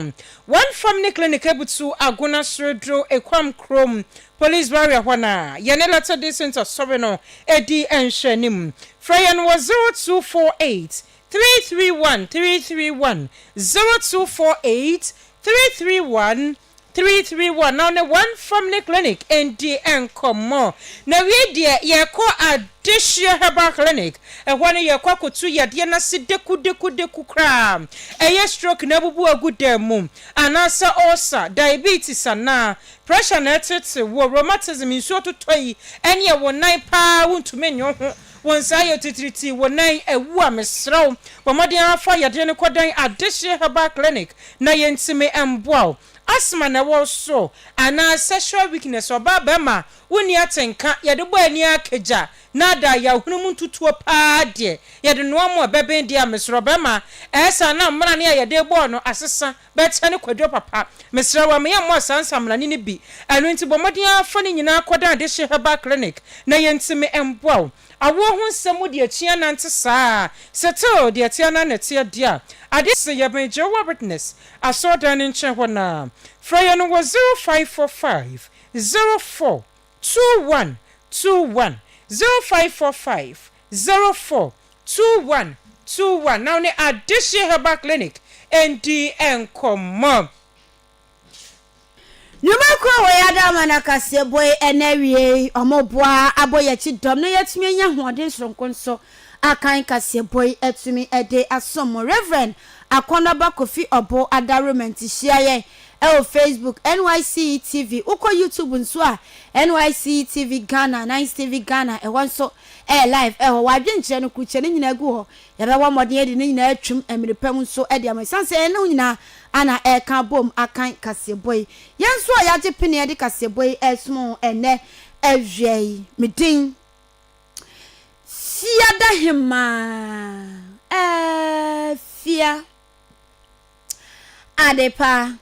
One Family Clinic ebutu agona sordwo Ekuam kurow mu Police Barrier hɔ no a yɛne Latter Day Saint Asɔre no di nhwɛanim. Frɛ yɛn wɔ zero two four eight, three three one, three three one, zero two four eight, three three one, three three one na wo ne One Family Clinic ndi nkɔmmɔ. Na wiei deɛ yɛrekɔ Adehyeɛ Herbal Clinic Ɛhɔ no yɛkɔ akɔtu yadeɛ no ase dekudekudeku koraa. Ɛyɛ stroke na abubu agu dan mu, anaasɛ ɔɔsa, diabetes anaa pressure na ɛreteetew wo, rheumatism, nsuo totɔ yi, ɛneɛ wo nan pa ara wontumi nnye wo ho, wo nsa ayɛ titiritii, wo nan awu a, mesrɛ wo bɔ mmɔden ara fa yadeɛ no kɔdan Adehyeɛ Herbal Clinic na yɛntumi mmoa wo. Asthma na ɛwɔ wo so anaa sexual weakness, ɔbaa barima wonni atenka, yɛde bɔ ani ara kagya Na da yahunu mu ntutuo paa deɛ yɛde noa mo ɛbɛben deɛ a mesrɛ ɔbɛma ɛɛsa na mmarane a yɛde rebɔɔ no asesa bɛkyɛ ne kwaduro papa mesrɛ wo ɛma yɛ mmɔɔ saa nsamrane no bi ɛno nti bɔ mmɔden ara fa ne nyinaa kɔ dan dehye herbal clinic na yɛntumi mboa wo awoɔ ho nsɛm mu deɛ kyia nante saa settle deɛ ɛteɛ no ara na ɛteɛ deɛ a adeɛ se yɛbɛn Jehovah Witness asɔrdan no nkyɛn hɔ no a frɛ yɛn wɔ zero five four five zero four Two one two one zero five four five zero four two one two one na wo ne Adehye Herbal Clinic ndi nkɔmmɔ. Nwuma kuo a wɔyɛ ada ama no akaseɛ bɔ yi ɛna awiei. Wɔboa abɔ yɛn akyi dɔm na yɛatumi anya ahoɔden soronko nso akan kaseɛ bɔ yi atumi de asom mo. Rev. Akɔnɔba Kofi Ɔbo Adawroma nti hyia yɛn Ɛwɔ Facebook, NYSC TV, wokɔ YouTube nso a, NYSC TV Ghana, Nice TV Ghana, ɛhɔ nso ɛyɛ live ɛwɔ hɔ. W'adwene nkyerɛ no, kurukyerɛ no nyinaa gu hɔ. Yɛbɛbɔ mmɔden adi ne nyinaa atwam mmere pa mu nso de ama wo ɛsiane sɛ yɛne wo nyinaa ana ɛreka abom akan kaseɛbɔ yi. Yɛn nso a yɛagye peneɛ de kaseɛbɔ yi ɛresoma wo ɛnnɛ awia yi. Me din Siadahemaa Afia. Adepa,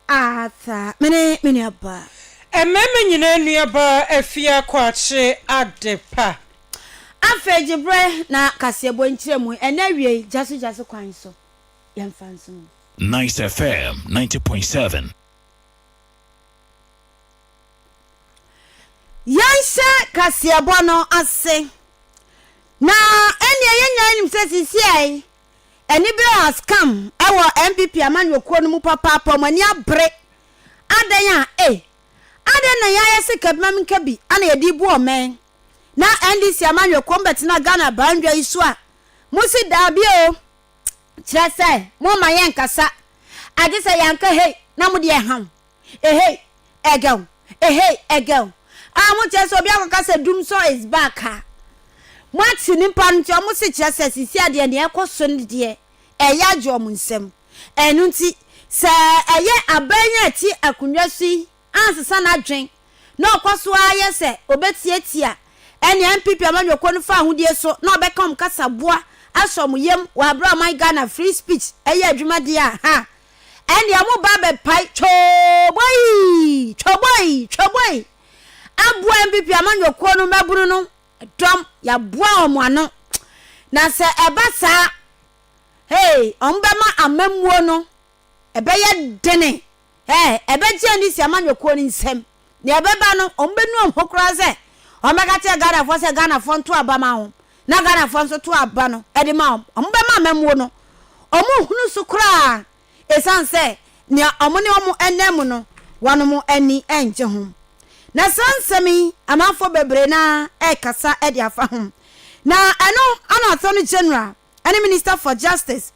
Arthur, me ne me nuabaa. Mmarima nyinaa nuabaa, Afia Kwakye, Adepa. Afei gye berɛ na kaseɛbɔ nkyerɛmu ɛnna awiei gyasogyaso kwan so. Yɛmfa nsom. Nice FM ninety point seven. Yɛnhyɛ kaseɛbɔ no ase, na ɛnneɛ yɛn nyinaa nim sɛ seesei Anibere has come ɛwɔ NPP amanyɔkuo no mu papaapa wɔn ani abere adɛn a ei adɛn na yɛayɛ se kabima minka bi ana yɛde rebu ɔmɛn na NDC amanyɔkuo mo bɛtena Ghana abandwa yi so a mo se daabi o kyerɛ sɛ mo mma yɛn nkasa agye sɛ yɛanka hei na mo deɛ ɛha mo Ehei! Ɛgɛw! Ehei! Ɛgɛw! A wɔn kyerɛ sɛ obi akɔka sɛ Dumsor is back a, moate nipa no nti wɔn se kyerɛ sɛ sisi adeɛ nea ɛkɔ so no deɛ ɛyɛ agye wɔn nsam. Ɛno nti sɛ ɛyɛ aban yi a ɛte akonnwa so yi ansesa n'adwen na ɔkɔ so ara yɛ sɛ obetiatia ɛnea NPP amanyɔkuo no fa ahodie so na ɔbɛka wɔn kasaboa ahyɛ wɔn yam wɔ abere a ɔman Ghana free speech yɛ adwuma deɛ a, ha! ɛnneɛ mo ba bɛpae twoboi twoboi twoboi aboa npp amanyɔkuo no mmabunu no dɔm yɛaboa wɔn ano na sɛ ɛba saa hey wɔn bɛma amammuo no ɛbɛyɛ dene hey ɛbɛgye ani si amanyɔkuo no nsam. Nea ɛbɛba no, wɔbɛnu wɔn ho koraa sɛ wɔbɛka kyerɛ Ghanafoɔ sɛ Ghanafoɔ nto aba ma wɔn, na Ghanafoɔ nso to aba no de ma wɔn. Wɔbɛma amammuo no, wɔnhunu so koraa ɛsiane sɛ nea wɔn ne wɔn nam mu no, wɔn ani nnye ho. Na saa nsɛm yi, amanfoɔ bebree no ara rekasa de afa ho. Na ɛno ana asɛm no gyina. ne Minister for Justice,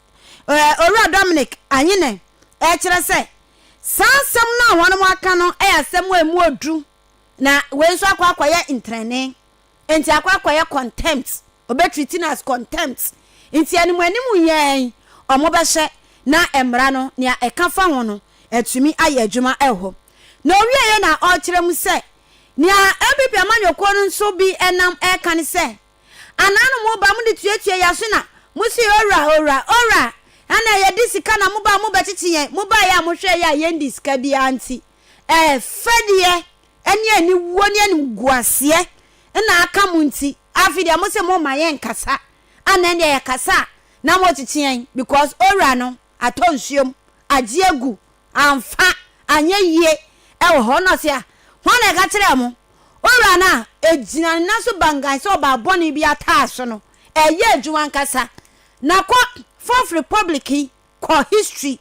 Owura Dominic Anyene, rekyerɛ sɛ saa asɛm no a wɔnom aka no yɛ asɛm a ɛmu ɔduru na wei nso akɔ akɔyɛ ntrɛne nti akɔ akɔyɛ contempt, ɔbɛtriti no as contempt nti anim anim yɛn wɔn bɛhyɛ na mmara no nea ɛka fa ho no atumi ayɛ adwuma wɔ na ɔwieɛ na ɔrekyerɛ mu sɛ nea npp amanyɔkuo no nso bi nam ɛreka ne sɛ. Anaa no mo ba mo de tuatua yɛ aso na mo se owura owura owura ɛna yɛ de sika na mo ba mo bɛ kyekye yɛn mo baeɛ a mo hwɛɛ yɛ a yɛn di sika biara nti ɛɛ fɛdeɛ ɛne ani wuo ne anim guaseɛ ɛna aka mo nti afi deɛ mo se mo ma yɛn kasa ana ɛne yɛ kasa a na mo kyekye yɛn because owura no atɔ nsuom agye agu amfa anyɛ yie wɔ hɔ. Ɛna ɔse a, hwan na ɛka kyerɛɛ mo? Owura no a ɛgyina ne nan so bangann sɛ ɔbaa bɔne bi ataa so no, ɛyɛ adwuma ankasa. Na kɔ Fourth Republic yi, kɔ history,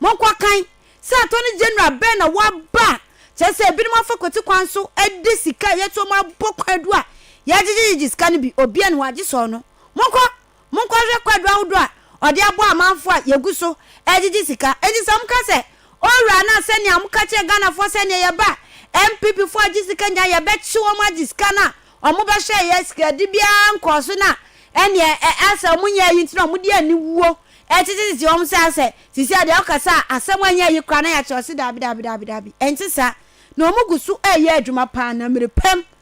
monkɔ kan sɛ Attorney General bɛn na waba, kyerɛ sɛ ebinom afa kwati kwan so de sika a yɛto wɔn abɔ kwaadu a yɛagyegyegyegye sika no bi, obiara nni hɔ agye sɛ ɔno. Monkɔ Monkɔhwɛ kwadu ahodoɔ a ɔde abɔ amanfoɔ a yɛgu so gyegye sika. Enti sɛ moka sɛ, Owura anaa sɛnea moka kyerɛ Ghanafoɔ sɛ neɛ yɛba a NPPfoɔ regye sika nyinaa yɛbɛkye wɔn agye sika no a wɔbɛhyɛɛ yɛn sikadi biara nkɔɔ so no a, ɛnneɛ asɛ wɔnyɛ ayi nti na wɔde aniwuo tetetete wɔn sɛ asɛ seesei deɛ wokasa a asɛm anyɛ ayi koraa na yɛakyerɛ wo se daabi daabi daabi daabi ɛnte saa. Na wɔgu so reyɛ adwuma pa ara na mmerɛ pa mu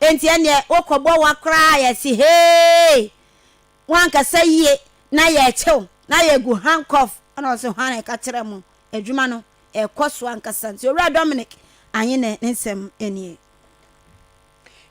Enti ɛnneɛ wokɔbɔ wa koraa a yɛte hee wankasa yie na yɛrekye wo na yɛgu handcuff ɛna ɔse hwan na ɛka kyerɛ mo adwuma no ɛrekɔ so ankasa nti Owura Dominic Anyene ne nsɛm nie.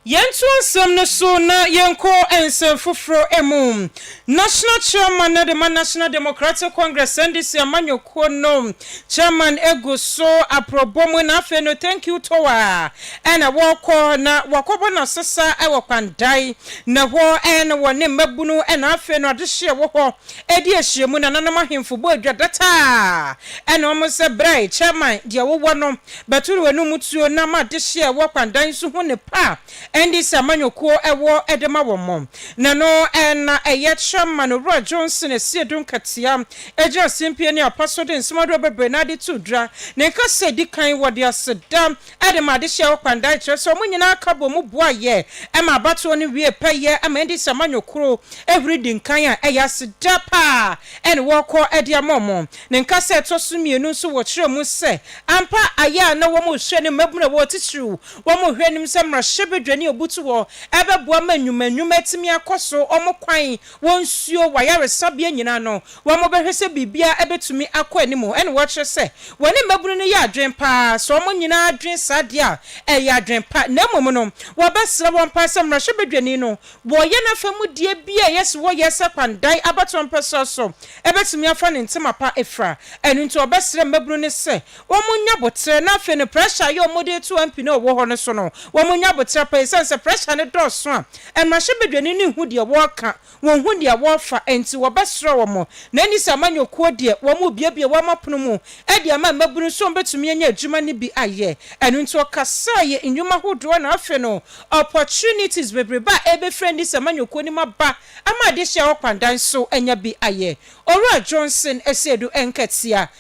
Yɛntoa nsɛm no so na yɛnkɔ nsɛm foforɔ mu. National Chairman no de ma National Democratic Congress, NDC, amanyɔkuo no Chairman gu so aprɔbɔ mu na afei no thank you tour a na wɔkɔ na wakɔbɔ n'asesa wɔ Kwandae na hɔ na wɔ ne mmabunu na afei no adehyeɛ wɔ hɔ di ahyia mu nananom ahemfo bɔ adwa data a na wɔn sɛ brɛɛ Chairman deɛ wowɔ no bɛtoro anum tuo na ma adehyeɛ a ɛwɔ Kwandae nso hu ne pa a Ɛnde sɛ amanyɔkuo wɔ de ma wɔn mo, na no na ɛyɛ kyɛ ma no wura Johnson asi adum katia, agye asempie ne apa so de nsɛm ahoroɔ bebree no ara de to dwa. Ne nkasa a ɛdi kan, wɔde aseda de maa adehyeɛ hɔ kwandae, kyerɛ sɛ wɔn nyinaa ka bɔɔ mu boaeɛ maa abatoɔ no wiee pɛyɛ ma ɛnde sɛ amanyɔkuo huri di nkan a, ɛyɛ aseda pa ara na wɔkɔ de ama wɔn. Ne nkasa a ɛtɔ so mmienu nso, wɔkyerɛɛ mu sɛ ampa ayɛ a na wɔrehwɛ ne mmabunu a wɔwɔ titiriw Wɔhwɛ nim sɛ mmarahyɛbadwa ne obutu hɔ bɛboa ma nnwuma nnwuma atumi akɔ so, wɔn kwan, wɔn nsuo, wɔn ayaresabea nyinaa no, wɔbɛhwɛ sɛ biribiara bɛtumi akɔ anim. Ɛna wɔkyerɛ sɛ wɔne mmabunu no yɛ adwene pa ara, sɛ wɔn nyinaa dwene saa deɛ a, ɛyɛ adwene pa. Na mmom no, wɔbɛsrɛ wɔn pa ara sɛ mmarahyɛbadwani no, wɔyɛ n'afamudeɛ bi a ɛyɛ sɛ wɔyɛ sɛ kwan dan abatoɔ mpɛsoa so, ɛbɛtumi afa ne ntoma pa afira. Ɛno nti wɔbɛsrɛ mmabunu no sɛ wɔnnya aboterɛ na afei no pressure a ɛyɛ wɔn de reto MP no a ɔwɔ hɔ no so no wɔnnya aboterɛ paa ɛsiane sɛ pressure no dɔɔso a mmarahyɛbadwani no nhu deɛ wɔreka, wɔnhu nea wɔrefa nti wɔbɛsra wɔn na ɛnni sɛ amanyɔkuo deɛ wɔrebuebue wɔn apono mu de ama mmabunu sɛ wɔbɛtumi anya adwuma no bi ayɛ ɛno nti ɔkasaa yɛ nnwuma ahodoɔ na afei no opportunities bebrebe a ɛrebɛfiri ɛnni sɛ amanyɔkuo no mu aba ama adehyeɛ hɔ kwandan so anya bi ayɛ Owura Johnson Asiedu Nkɛtea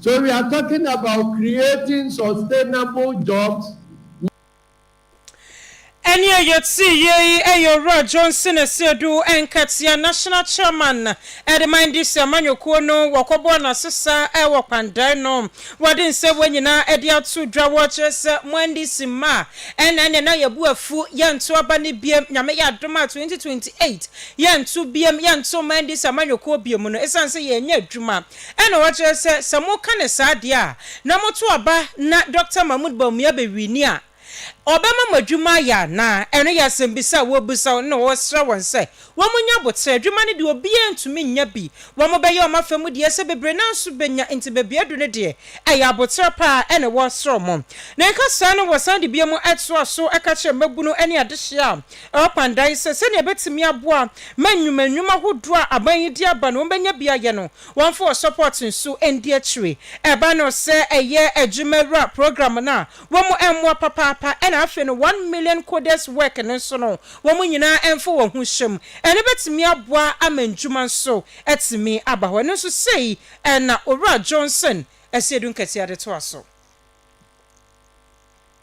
So we are talking about creating sustainable jobs? Ɛne a yɛte yie yi yɛ Owura Johnson Asiedu, Nkateɛ National Chairman de ma NDC amanyɔkuo no. Wɔkɔbɔɔ no asesa wɔ Kpandai no. Wɔde nsɛmmoa nyinaa de ato dwa. Wɔkyerɛ sɛ mo NDC mma a, ɛnna ɛneɛ na yɛbu afu, yɛnto aba no biom. Nyame yɛ adom a 2028 yɛnto biom, yɛnto mma NDC amanyɔkuo biom no, ɛsiane sɛ yɛnnya adwuma. Ɛna wakyerɛ sɛ, sɛ moka no saa deɛ a, na moto aba na Dɔkta Mahmoud Bawumia bɛwini a, ɔbɛma mo adwuma ayɛ anaa? Ɛno yɛ asɛmbisa a wɔrebisa wɔn na wɔresrɛ wɔn sɛ wɔnyɛ aboterɛ. Adwuma no deɛ obiara ntumi nnya bi. Wɔbɛyɛ wɔn afa mu deɛ sɛ bebree no ara nso bɛnya, nti baabi a adu no deɛ, ɛyɛ aboterɛ pa ara na wɔresrɛ wɔn. Ne nkasaa no wɔsan de biom toa so ka kyerɛ mmabunu ne adehyeɛ a Orpan dae sɛ sɛnea ɛbɛtumi aboa ma nnwuma nnwuma hodoɔ a aban yi de aba no wɔbɛnya bi ayɛ no wɔmfa wɔ support nso ndi akyire. Ɛba no sɛ ɛyɛ adwuma wura program no a wɔn mmoa papaapa ɛna afei no one million coders work no nso no wɔn nyinaa mfa wɔn ho hyɛ mu. Ɛno bɛtumi aboa ama nnwuma nso atumi aba hɔ. Ɛno nso sei na Owura Johnson Asiedu Nketiah de toa so.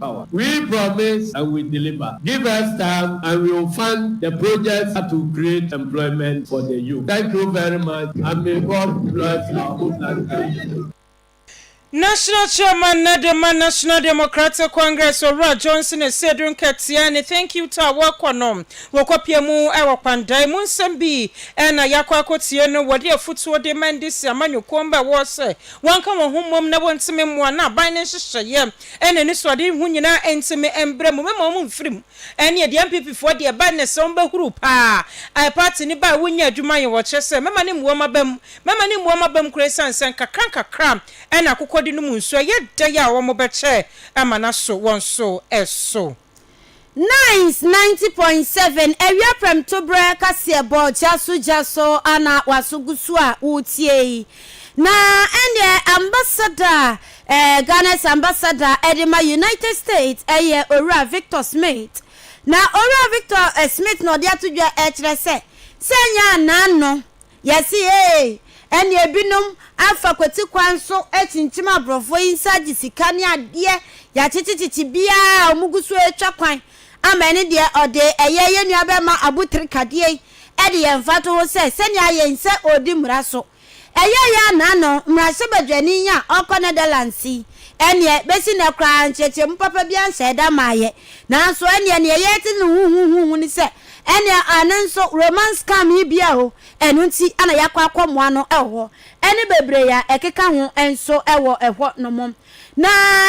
power. We promise and we deliver, give us time and we will fund the projects that will create employment for the youth. Thank you very much and may God bless our homeland Ghana. National Chairman na de ma National Democratic Congress Owura Johnson Asiedu Nketiah ne Thank You Tour a wɔrekɔ no, wɔkɔpue mu wɔ Kpandae. Mu nsɛm bi na yɛakɔ akɔtie no. Wɔde afutuo de ma Ndc amanyɔkuo mma a wɔwɔ sɛ wɔnka wɔn ho mmom na wɔntumi mmoa na aban no nhyehyɛeɛ Ɛna anisoade yi ho nyinaa ɛnti me ɛmbrɛ mu mɛma ɔmo mfiri mu. Ɛneɛ deɛ NPP foɔ deɛ ɛba nnɛ sɛ ɔmo bɛhuru paa a party no ba a wonnya adwuma nyɛ wɔ kyerɛ sɛ mɛma no mmu ɔmo aba mu mɛma no mmu ɔmo aba mu koraa ɛsiane sɛ nkakra nkakra ɛna akokɔ de nom nsuo ɛyɛ dɛn a ɔmo bɛkyɛ ama no aso wɔn so ɛso. Nice 90.7 awia prɛmtoberɛ kaseɛbɔ gyaso gyaso a na waso gu so a woretie yi. Na ɛnneɛ ambassador a eh, Ghana's ambassador de ma United States ɛyɛ Owura Victor Smith. Na Owura Victor eh, Smith na ɔde ato dwa ɛkyerɛ sɛ sɛ ɛnyɛ anaa no Yɛse eei, ɛne ebinom afa kwati kwan so akyinkyim aborɔfoɔ yi nsa agye sika ne adeɛ, yɛakyekyekyekye biaa a ɔmo gu so retwa kwan ama ɛne deɛ ɔde ɛyɛ yɛn nua bɛma abotiri kadeɛ yi de yɛn mfatoho sɛ sɛnea yɛn sɛ ɔredi mmara so ɛyɛ yɛn anaa no, mmarahyɛbadwani yi a ɔkɔ Netherlands yi ɛneɛ bɛsi nnɛ koraa nkyerɛkyerɛmu papa biaa nhyɛɛ da mmaeɛ nanso ɛneɛ neɛ yɛte no huhuhuhu ne sɛ Ɛnna ɛno nso Roman scam yi bi a ɛwɔ ɛno nti na yɛakɔ akɔmoa no wɔ hɔ, ne bebree a ɛkeka ho nso wɔ hɔnom. Na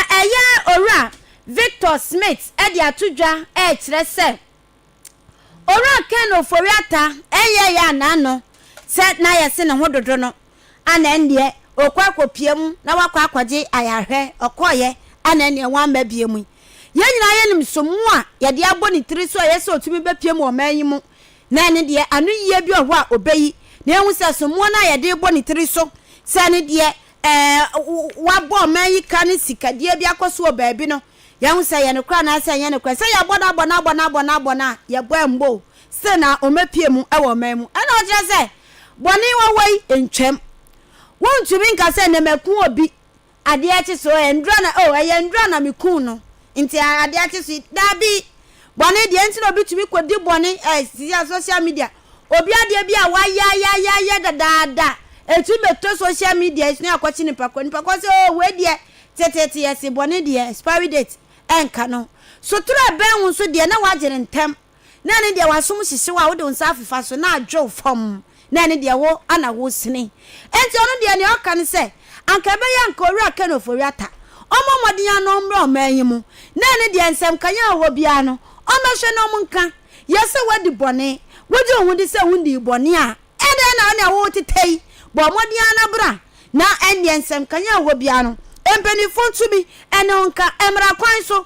ɛyɛ Owura Victor Smith de ato dwa rekyerɛ sɛ Owura Ken Ofori-Atta nyɛɛ yɛn a n'ano sɛ na yɛse ne ho dodo no, Ana ɛnneɛ ɔkɔ akɔpia mu na wakɔ akɔgye ayarhwɛ? Ɔkɔeɛ. Ana ɛnneɛ wamma bie mu? Yɛn nyinaa yɛnim so mmoa a yɛde abɔ ne tiri so a ɛyɛ sɛ ɔtumi bɛpia mu wɔ ɔman yi mu. Na ɛno deɛ, ano yie bi wɔ hɔ a ɔbɛyi. Na yɛhu sɛ so mmoa no a yɛde rebɔ ne tiri so sɛ ɛno deɛ ɛɛ, wabɔ ɔman yi ka ne sikadeɛ bi akɔ so wɔ baabi no, yɛhu sɛ ɛyɛ nokorɛ anaasɛ ɛnyɛ nokorɛ. Sɛ yɛabɔ no abɔ no abɔ no abɔ no abɔ no a, yɛbɔ ammɔ o, Sɛ na wɔapue mu wɔ ɔman mu. Ɛna ɔkyerɛ sɛ bɔne wɔwɔ yi ntwam. Wontumi nka sɛ na maku obi, adeɛ akye so, ɛyɛ nnora na, oh, ɛyɛ nnora na mekum no, nti adeɛ akye so yi. Daabi! Bɔne deɛ, nti na obi tumi kɔdi bɔne, eh, sisi a social media, obi adeɛ bi a wayɛ ayɛ ayɛ ayɛ dadaada, ɛtumi bɛtɔ social media yi so na yɛakɔkye nipa korɔ. Nipa korɔ sɛ, oh, wei deɛ, teteete yɛse bɔne deɛ, expiry date ɛnka no. Sotorɛ bɛn wo nso deɛ na woagye no ntɛm, na ɛne deɛ w'asom hyehye wo a wode wo nsa afefa so na adwe wo fam, na ɛne deɛ wo a na woresene. Enti ɔno deɛ, nea ɔka ne sɛ, Anka ɛbɛyɛ a anka Owura Ken Ofori-Atta ɔmmɔ mmɔden ara na ɔmmra ɔman yi mu, na ɛne deɛ nsɛmkaeɛ a ɛwɔ hɔ biara no, ɔmmɛhwɛ na ɔnka. Yɛ sɛ woadi bɔne. Wogye wo ho di sɛ wonnii bɔne a, ɛdeɛn na wo na ɛwɔ wo teta yi? Bɔ mmɔden ara na bra, na ɛnneɛ nsɛmkaeɛ a ɛwɔ hɔ biara no, mpanimfoɔ ntumi ne wo nka. Mmara kwan so,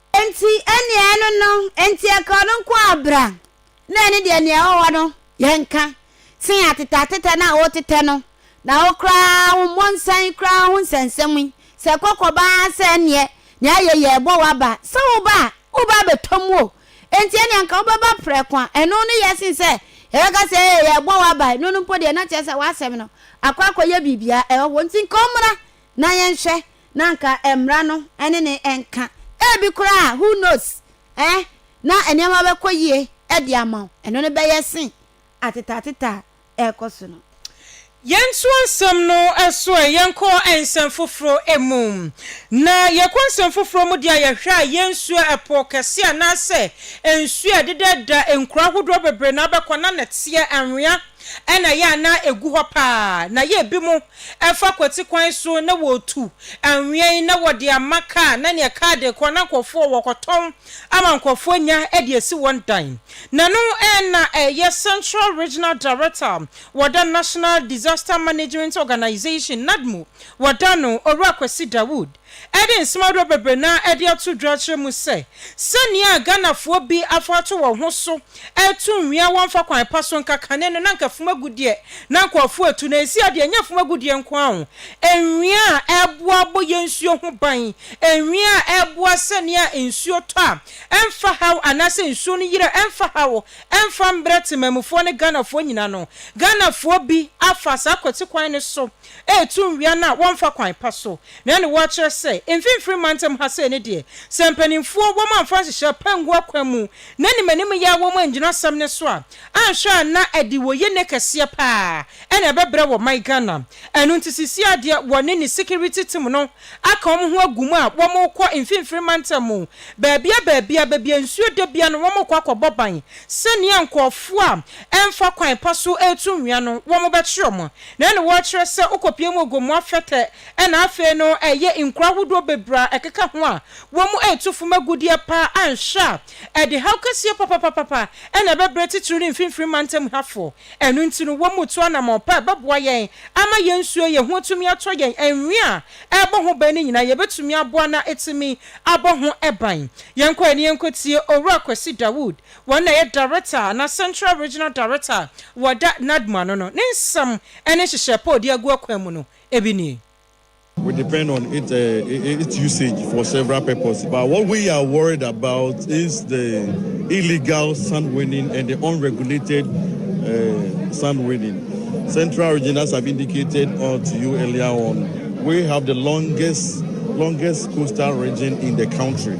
Enti ɛnneɛ ɛno no enti ɛka ɔno nko ara bra na ɛne deɛ nea ɛwɔ hɔ no yɛ nka sen atetɛatetɛ no a wotetɛ no na wo koraa wo mmɔnsan koraa ho nsɛnsɛm yi, sɛ ɛkɔ kɔba ara sɛ ɛnneɛ nea ayɛ yi ɛrebɔ wo aba a, sɛ woba a woba abɛtɔ mu o, enti ɛnneɛ anka wobɛba prɛko a ɛno no yɛ sen sɛ yɛbɛka sɛ ee yɛrebɔ wo aba, ɛno no mpo deɛ na kyerɛ sɛ w'asɛm no akɔ akɔyɛ biribiara ɛwɔ hɔ, enti nka ɔmmra na yɛnhwɛ na anka mmara no ne no nka. Ebi koraa a, who knows, eh, na nneɛma bɛkɔ yie de ama wo. Ɛno no bɛyɛ sen atetaatetaa a ɛrekɔ so no. Yɛntoa nsɛm no so ɛ. Yɛnkɔ nsɛm foforɔ mu. Na yɛkɔ nsɛm foforɔ mu deɛ a, yɛhwɛ a, yɛnsuo ɛpo kɛseɛ anaasɛ nsuo a ɛdeda da nkuro ahodoɔ bebree no abɛkɔ na nɛteɛ anwea na ɛyɛ a na ɛgu hɔ pa ara. Na yɛ ebinom Ɛfa kwati kwan so na wɔretu anwea yi na wɔde ama kaa na nea kaa de rekɔ na nkurɔfoɔ wɔ wɔkɔtɔn ama nkurɔfoɔ anya de asi wɔn dan. N'ano na ɛyɛ Central Regional Director wɔ da National Disaster Management Organization, NADMO, wɔ da no, Owura Kwasi Dawood. Ɛde nsomadorɔ bebree na ɛde ato dwa akyerɛ mu sɛ, sɛnea Ghanafoɔ bi afa ato wɔn ho so reto nwea wɔmfa kwan pa so nka kane no na anka fam agudeɛ na nkurɔfoɔ retu na ɛsi adeɛ ɛnyɛ fam agudeɛ nko ara o, nwea a ɛboa bɔ yɛn nsuo ho ban, nwea a ɛboa sɛnea nsuo tɔ a ɛmfa haw anaasɛ nsuo no yiri a ɛmfa haw ɛmfa mbrɛ temanmufoɔ ne Ghanafoɔ nyina no, Ghanafoɔ bi afa saa kwati kwan no so. Ɛretu nwea no a wɔmfa kwan pa so. Na ɛne wo akyerɛ sɛ, mfimfini mantam ha sei no deɛ, sɛ mpanimfoɔ wɔn amfa nhyehyɛɛ pa angu akwan mu na animanim yɛ a wɔn angyina asɛm no so a, anhwɛ a na ɛde wɔ yɛ nɛ kɛseɛ pa ara na ɛbɛbrɛ wɔ man Ghana. Ɛno nti sesie a deɛ wɔne ne security team no aka wɔn ho agu mu a wɔrekɔ mfimfini mantam mu baabia baabia, baabi a nsuo da biara no wɔrekɔ akɔbɔ ban sɛdeɛ nkorɔfoɔ a ɛmfa kwan pa so retu nwea no wɔbɛkye wɔn Na ɛne wɔkyerɛ sɛ wokɔpue mu ogo mu afɛtɛ na afei no ɛyɛ nkuro ahodoɔ bebree a ɛkeka ho a wɔn mu retu fam agudeɛ pa ara a nhwɛ a ɛde haw kɛseɛ papapapapa na ɛbɛbrɛ titiriw ne mfimfini mantam hafoɔ. Ɛno nti no wɔn mu tu anammɔn pa a ɛbɛboa yɛn ama yɛn nsuo a yɛhu atumi atɔ yɛn anwea a ɛrebɔ ho ban no nyinaa yɛbɛtumi aboa na atumi abɔ ho ban. Yɛnkɔ ani yɛnkɔtie Owura Kwasi Dawood Wɔn na ɛyɛ Director anaa Central Regional Director a wɔda Nadmo ano no. Ne nsɛm ne nhyehyɛɛ pa a ɔde agu akwan mu no, ebi nie. We depend on it its usage for several purpose but what we are worried about is the illegal sand winning and the unregulated sand winning. Central region as I've indicated to you earlier on we have the longest longest coastal region in the country.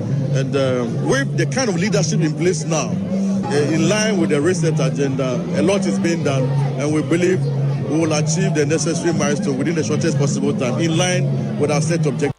And uh, with the kind of leadership in place now, uh, in line with the reset agenda, a lot is being done, and we believe we will achieve the necessary milestone within the shortest possible time, in line with our set objectives.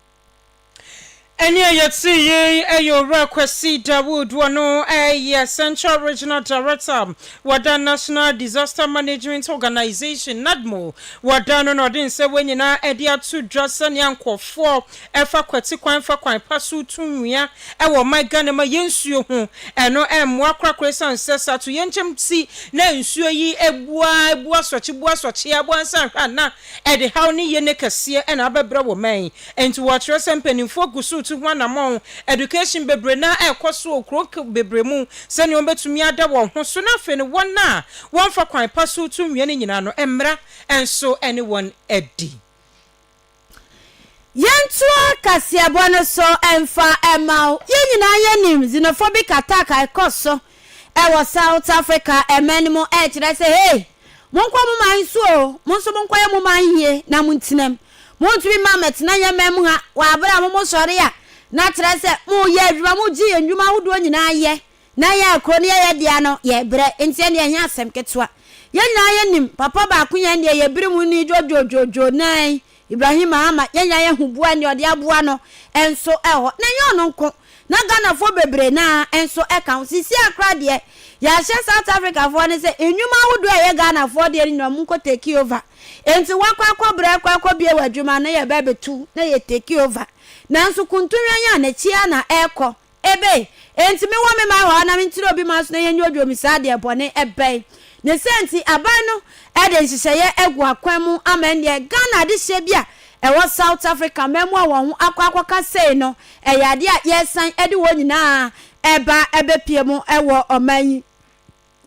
ɛne a yɛte yei ɛyɛ owura kwasi dawood wɔno ɛyɛ central regional director wɔda national disaster management organization nadmo wɔda no na ɔde nsɛ wɔ nyinaa ɛde ato dwa sɛnea nkɔfoɔ ɛfa kwati kwan fa kwan pa so tu nnua wɔ ɔman Ghana mu a yɛn nsuo ho ɛno mmoa korakora ɛsiane sɛ sɛ atoyerɛnkyɛm nti na nsuo yi abu ara abu asorɔkye bu asorɔkye ara bu ansa anhwɛ a na ɛde haw ne yene kɛseɛ na abɛbrɛ wɔ ɔman yi nti wɔkyerɛ sɛ mpaninfoɔ gu so retu ho anamɔn education bebree na ɛrekɔ so wɔ kuro bebree mu sɛdeɛ wɔbɛtumi ada wɔn ho so na afei no wɔn a wɔmfa kwan pa so retu nnua no nyinaa no mmara nso ne wɔn adi. Yɛntoa kaseɛbɔ no so mfa mma wo. Yɛn nyinaa yɛnim xenophobic attack a ɛkɔ so wɔ South Africa ɛman no mu a ɛkyerɛ sɛ hey, monkɔ mo man so o, mo nso monkɔyɛ mo man yie na montena mu. Montumi mma mɛtena yɛn man mu ha wɔ abere a mo mosɔre a na kyerɛ sɛ moreyɛ adwuma, mogye yɛn nnwuma ahodoɔ nyinaa yɛ Ná yɛn a kurow no yɛ yɛn dea no, yɛrebrɛ, enti ɛnde ɛnyɛ asɛm ketewa. Yɛn nyinaa yenim papa baako yɛn deɛ yɛbere mu ni dwoodwoodwoodwoo nan, Ibrahim Ahama. Yɛn nyinaa yehu boa nea ɔde aboa no nso hɔ. Na ɛnyɛ ɔno nko, na Ghanafoɔ bebree no ara nso ka ho. Seesei koraa deɛ, yɛahyɛ South Africafoɔ no sɛ nnwuma ahodoɔ a ɛyɛ Ghanafoɔ deɛ no nyinaa wɔnkɔ take over. Enti wɔakɔ akɔbrɛ, akɔ akɔbue wɔn adwuma na yɛba abɛtu na yɛ take over. Nanso kuntunwɛn a n'akyi ara na ɛrekɔ. Ebe, enti me wɔ me man hɔ a na me ntire obi man so na yɛnyɛ odwo me saa deɛ bɔne bɛn ne sɛ nti aban no de nhyehyɛeɛ agu akwan mu ama ɛnneɛ Ghana adehyeɛ bi a ɛwɔ South Africa mmaamua wɔn ho akɔ akɔka sei no ɛyɛ adeɛ a yɛresan de wɔn nyinaa ɛba ɛbɛpie mu ɛwɔ ɔman yi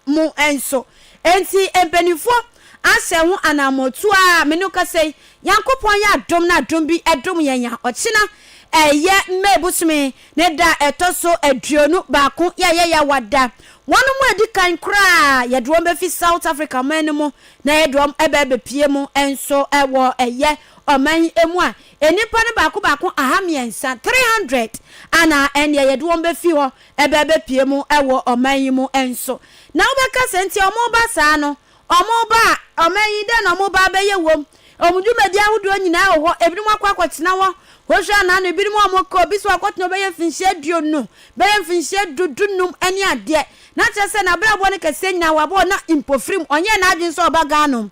mu nso. Enti mpaninfoɔ ahyɛ ho anaammɔtu a me no kasa yi, Nyankopɔn yɛ adom na adom bi dom yɛn a ɔkyena ɛyɛ May bosome ne da a ɛtɔ so aduonu baako yɛyɛ yawada. Wɔnom a ɛdi kan koraa yɛde wɔn bɛfi South Africa ɔman no mu na yɛde wɔn ɛbɛ abɛpie mu nso wɔ ɛyɛ ɔman yi mu a nnipa no baako baako aha mmiɛnsa, 300, ana ɛnneɛ yɛde wɔn bɛfi hɔ ɛbɛbɛpue mu wɔ ɔman yi mu nso. Na wobɛka sɛ, Enti wɔreba saa no, wɔreba a, ɔman yi, dɛn na wɔreba abɛyɛ wom? Wɔn dwumadi ahodoɔ nyinaa wɔ hɔ. Ebinom akɔ akɔtena hɔ. Wohwɛ a, nnaano ebinom a wɔkɔ, obi so akɔtena hɔ bɛyɛ mfinhyia aduonu, bɛyɛ mfinhyia du, du-nnum ne adeɛ. Na kyerɛ sɛ, n'abrabɔ no kɛseɛ nyinaa, wabɔ, na mpofirim, ɔnyɛɛ n'adwene sɛ ɔba Ghana o.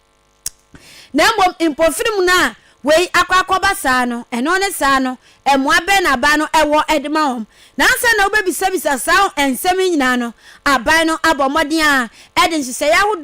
Na mmom mpofirim no a wei akɔ akɔba saa no, ɛno ne saa no, mmoa bɛn na aban no wɔ de ma wɔn? Na ansa na wobɛbisabisa saa nsɛm yi nyinaa no, aban no abɔ mmɔden ara de nhyehyɛeɛ ahodoɔ